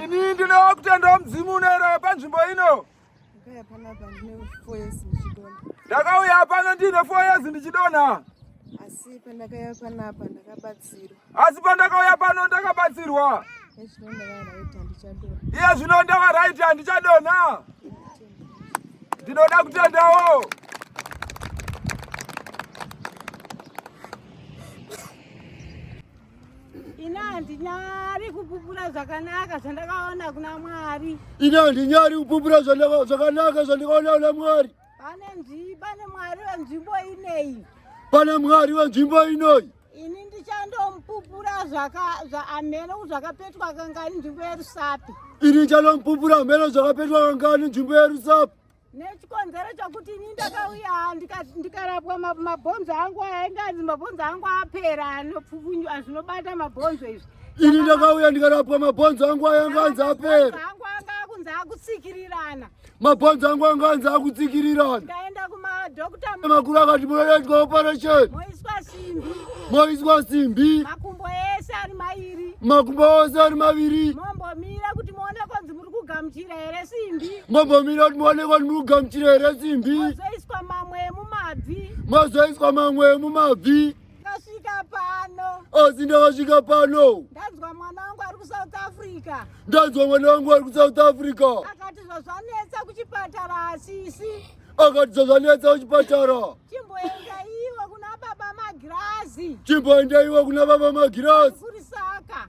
Ini ndinoda kutendawo mudzimu unoera panzvimbo ino. Ndakauya pano ndine four years ndichidonha. Asi pandakauya panapa ndakabatsirwa. Asi pandakauya pano ndakabatsirwa. Iye zvino ndava right handichadonha. Ndinoda kutendawo. Ini handinyari kupupura zvakanaka zvandakaona kuna Mwari. Ini handinyari kupupura zvakanaka zvandakaona kuna Mwari. Pane nzvimbo, pane Mwari wenzvimbo ineyi. Pane Mwari wenzvimbo inoyi. Ini ndichandomupupura amene zvakapetwa kangani nzvimbo yerusapi. Ini ndichandomupupura amene zvakapetwa kangani nzvimbo yerusapi. nechikonzero chokuti ini ndakauya ndikarapwa mabhonzo angu ainge anzi mabhonzo angu apera anopfukunywa zvinobata mabhonzo izvi ini ndakauya ndikarapwa mabhonzo angu ainge anzi apera angu anga akunzi akutsikirirana mabhonzo angu anga anzi akutsikirirana ndikaenda kumadokta makuru akati munoitwa operation moiswa simbi moiswa simbi makumbo ese ari mairi makumbo ose ari maviri mombomira kugamuchira here simbi ngombomira kuti muonekwa kuti muri kugamuchira here simbi mozoiswa mamwe emumabvi mozoiswa mamwe emumabvi ndasvika pano asi oh, ndakasvika pano ndanzwa mwana wangu ari kusouth africa ndanzwa mwana wangu ari kusouth africa akati zvazvanetsa kuchipatara asisi akati zvazvanetsa kuchipatara chimboenda iwe kuna baba magirazi chimboenda iwe kuna baba magirazi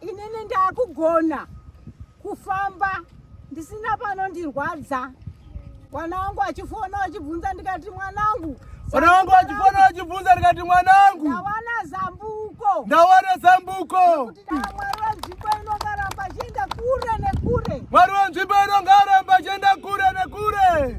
inini ndakugona kufamba ndisina panondirwadza mwana wangu achifona achibvunza ndikati mwanangu mwana wangu achifona achibvunza ndikati mwanangu ndawana zambuko ndawana zambuko mwari wenzvimbo inongaramba chienda kure nekure mwari wenzvimbo inongaramba chienda kure nekure